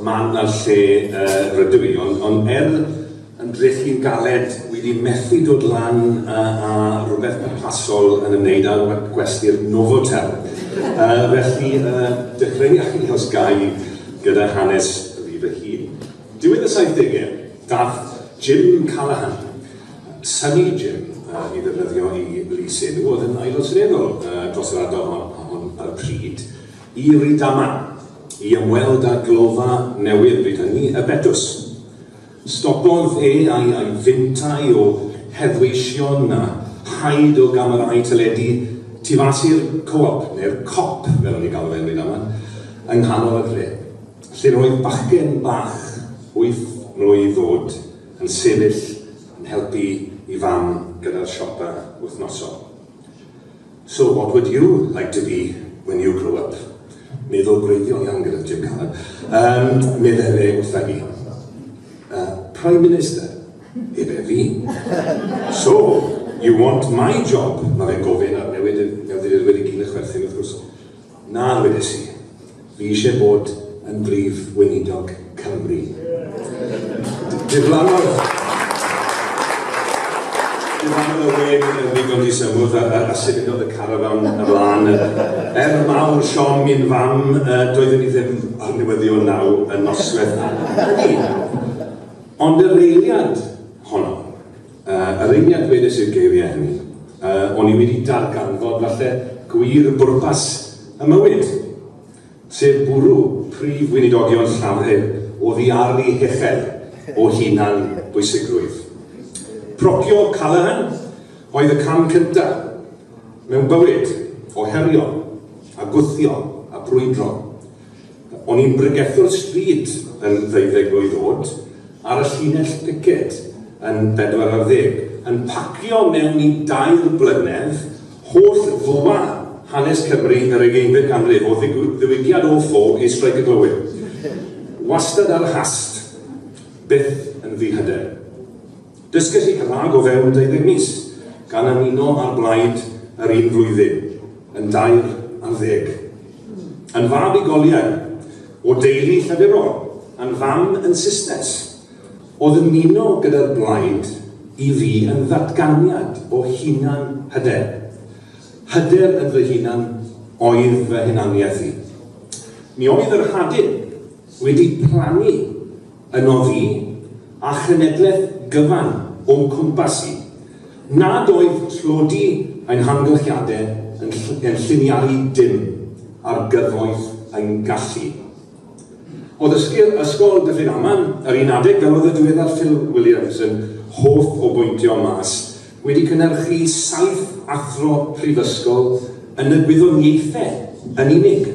Mae 'na lle rydw i, ond ond er yn dreth i'n galed, wi 'di methu dod lan a a rwbeth pwrpasol yn ymwneud â gwe- gwesty'r Novotel. Yy felly yy dechreuaf i os gai gyda hanes fi fy hun. Diwedd y saithdege, dath Jim Callaghan, Sunny Jim yy i ddefnyddio 'i lys enw, o'dd yn Aelod Seneddol yy dros yr ardal hon hon ar y pryd, i Rydama i ymweld â glofa newydd bryd hynny, y Betws. Stopodd e a'i a'i fintai o heddweision a haid o gamerâu teledu tu fas i'r Co-op, neu'r Cop fel o'n ni'n galw fe yn Rydama, yng nghanol y dre, lle roedd bachgen bach wyth mlwydd oed yn sefyll yn helpu i fam gyda'r siopa wythnosol. So what would you like to be when you grow up? Meddwl gwreiddiol iawn gyda Jim Callum. Um, meddai fe wrtha i. Uh, Prime Minister, ebe fi. So, you want my job? Mae fe'n gofyn ar newid y newyddiadurwyr i gyd a chwerthin wrth gwrs. Na, ddwedais i. Fi eisiau bod yn Brif Weinidog Cymru. Diflannodd... Diflannodd y wên yn ddigon disymwth a, a, a symudodd y carafan y flaen. Er mawr siom i'n fam, doeddwn i ddim ar newyddion naw y nosweth hynny. Ond yr eiliad honno. Yr un lle dwedais i'r geiriau hynny, o'n i wedi darganfod falle gwir bwrpas y mywyd, sef bwrw prif weinidogion Llafur oddi ar eu hechel o hunan bwysigrwydd. Procio Callaghan oedd y cam cyntaf mewn bywyd o herio a gwthio a brwydro. O'n i'n bregethwr stryd yn ddeuddeg mlwydd o'd, ar y llinell piced yn bedwar ar ddeg, yn pacio mewn i dair blynedd holl fwa hanes Cymru yr ugeinfed ganrif, o ddiwygiad o ffo i Streic y Glowyr. Wastad ar y hast, byth yn ddihyder. Dysgais i Gymraeg o fewn deuddeg mis, gan ymuno â'r blaid yr un flwyddyn, yn dair ar ddeg. Yn fab i goliau, o deulu llefurol, yn fam yn Susnes, oedd ymuno gyda'r blaid i fi yn ddatganiad o hunan hyder. Hyder yn fy hunan oedd fy hunaniaeth i. Mi oedd yr hadyn wedi plannu yn oddi, a chenedlaeth gyfan o'm cwmpas i, nad oedd tlodi ein hamgylchiadau yn yn lliniaru dim ar gyfoeth ein gallu. O ddysgu Ysgol Dyffryn Aman, yr un adeg, fel oedd y diweddar Phil Williams yn hoff o bwyntio mas, wedi cynhyrchu saith athro prifysgol yn y gwyddoniaethau yn unig.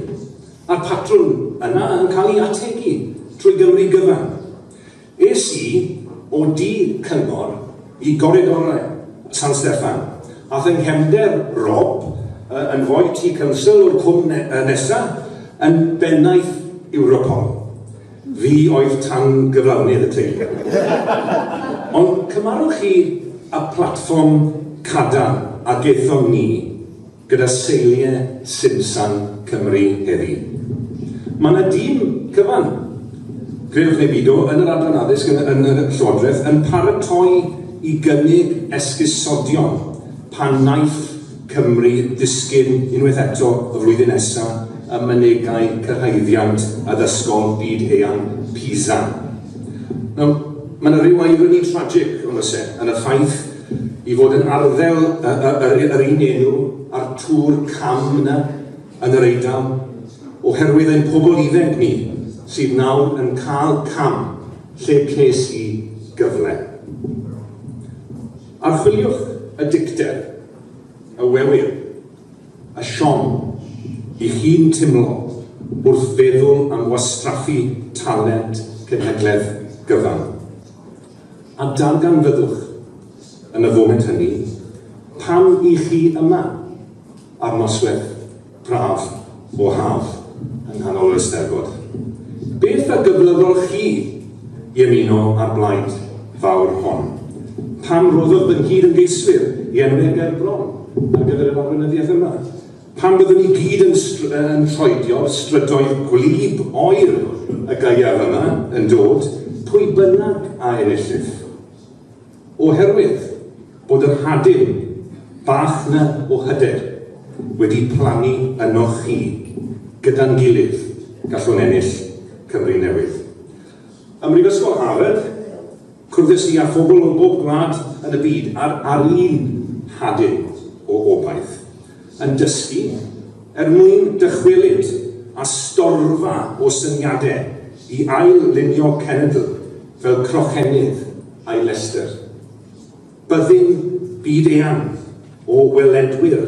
Mae'r patrwm yna yn cael ei ategu trwy Gymru gyfan. Es i o du Cyngor i goridorau San Steffan, a fy nghefnder Rob, yn foi tu council o'r cwm nesa yn bennaeth Europol. Fi oedd tan gyflawnydd y teulu. Ond cymarwch chi y platfform cadarn a gaethon ni. gyda seiliau Simsan Cymru heddi. Mae yna dîm cyfan, credwch neu bido, yn yr Adran Addysg yn, yn y Llywodraeth yn paratoi i gynnig esgusodion pan wnaiff Cymru ddisgyn unwaith eto y flwyddyn nesaf ym mynegai cyrhaeddiant addysgol byd-eang PISA. Nawr, mae yna ryw irony tragic, ond oes e, yn y ffaith I fod yn arddel y, y, yr, yr un enw a'r tŵr cam yna yn yr Eidal, oherwydd ein pobl iddeg ni sydd nawr yn cael cam lle ces i gyfle. Archwiliwch y dicter, y wewyr, y siom i chi'n timlo wrth feddwl am wastraffu talent cenhedledd gyfan. A darganfyddwch, yn y foment hynny, pam i chi yma, ar noswedd braf o haf yng nghanol yr Eisteddfod. Beth a gyflyddodd chi i ymuno â'r blaid fawr hon? Pam roddodd fy nghyd-ymgeiswyr i enw Ger bron ar gyfer yr arweinyddiaeth yma? Pan fyddwn ni gyd yn yn troedio'r strydoedd gwlyb oer y gaeaf yma yn dod, pwy bynnag a enillif. Oherwydd bod yr hadyn bach 'na o hyder wedi plannu ynoch chi, gyda'n gilydd, gallwn ennill Cymru newydd. Ym Mhrifysgol Harvard, Cyfres ni â phobl o bob gwlad yn y byd ar ar un hadyn o obaith, yn dysgu er mwyn dychwelyd â storfa o syniade i ail-lunio cenedl fel crochennydd a'i lestr. Byddin byd-eang o weledwyr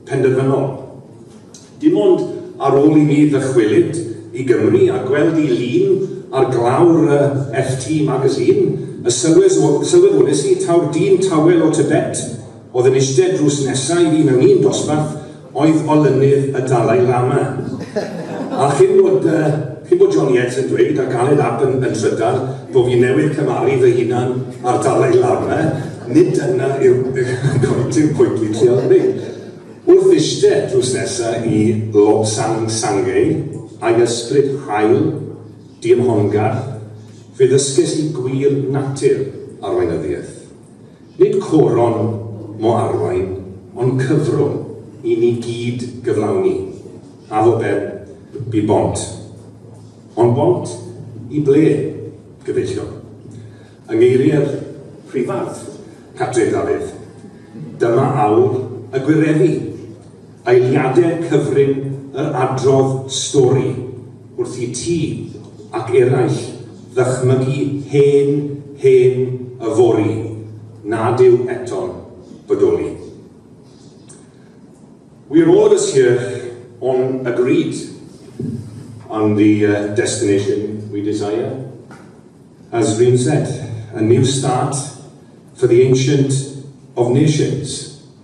penderfynol. Dim ond ar ôl i mi ddychwelyd i Gymru a gweld i lun ar glawr y FT Magazine y sylweddolais i taw'r dyn tawel o Tibet oedd yn eistedd drws nesa i fi mewn un dosbarth Oedd olynydd y Dalai Lama. A chyn bod yy chyn bod John Yates yn dweud ac Aled Ap yn yn trydar bo fi newydd cymaru fy hunan â'r Dalai Lama, nid dyna yw goiti'r pwynt dwi'n trial ddeud. Wrth iste drws nesa i Lobsang Sangay, a'i ysbryd hael, diymhongarth, fe ddysges i gwir natur arweinyddiaeth. Nid coron mo arwain, ond cyfrwng i ni gyd gyflawni, a fo ben, bu bont. Ond bont i ble, gobeithio? Yng ngeiriau'r Prifardd, Catrin Dafydd, dyma awr y gwireddu. Eiliadau cyfrin yr adrodd stori wrth i ti ac eraill ddychmygu hen, hen yfory nad yw eto'n bodoli. We're all of us here on agreed on the destination we desire, as Rhun said, a new start for the ancient of nations.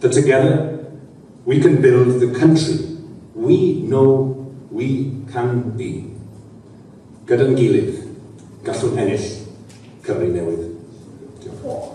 The together we can build the country we know we can be Gyda'n gilydd, gallwn ennill Cymru newydd. Diolch.